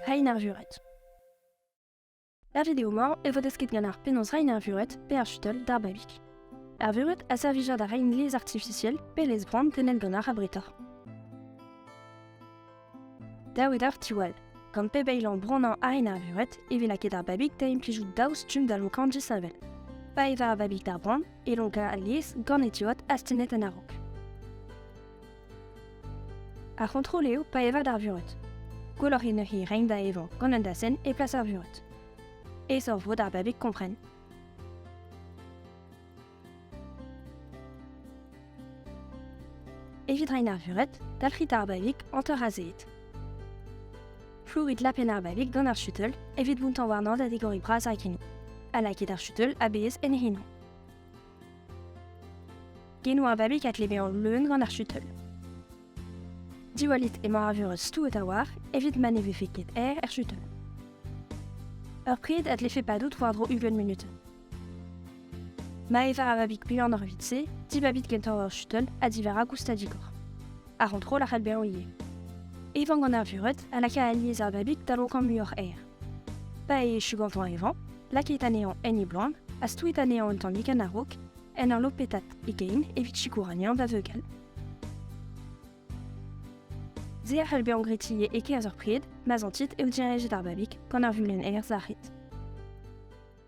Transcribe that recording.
Hein ar vuret. Er video-mañ e vo desket gant ar penaos rein ar vuret pe ar chutel d'ar babig. Ar vuret a servija da rein lez artifisiel pe lez bran tennet gant ar abreta. Dav eo deoc'h diwall. Gant pep eil ambronañ ha en arveret e vez lakaet ar babig da implijout daou stumm da lonkañ disheñvel. Pa e va ar babig d'ar bran e lonkañ alies gant e diod astennet en a-raok. Ar c'hontrol eo pa evad ar vured. Gwelloc'h eo neuze reiñ da evañ gant un dasenn e plas ar vured. Aesoc'h vo d'ar babig kompren. Evit rein ar vuret, dalc'hit ar babik hanter azeet. Flourit lapenn ar babik gant ar chuteul evit bountañ warnañ da digoriñ bras ar gini, ha lakit ar chuteul a-bezh en he hino. Genou ar babik a tleve an leun gant ar chuteul. Diwallit emañ ar vuret stouet a-walc'h evit ma ne vefe ket aer er chuteul. Ur pred a dlefe padout war-dro ugent munut, Maeva a vabig buan ar evit-se, dibabit gentañ ur shuttle ha divarañ goustad digor. Ar c'hontrol a c'hell bezañ ivez. Evañ gant ar vured ha lakaat alies ar babig da lokañ muioc'h aer. Pa echu gantañ evañ, lakait anezhañ en e bloaz ha stouit anezhañ un tammig en a-raok en ur lopetat e gein evit sikour anezhañ da veugal. Se a c'hell bezañ gretier e-kerzh ur pred ma zantit eo direñjet ar babig gant ar vulenn aer sac'het.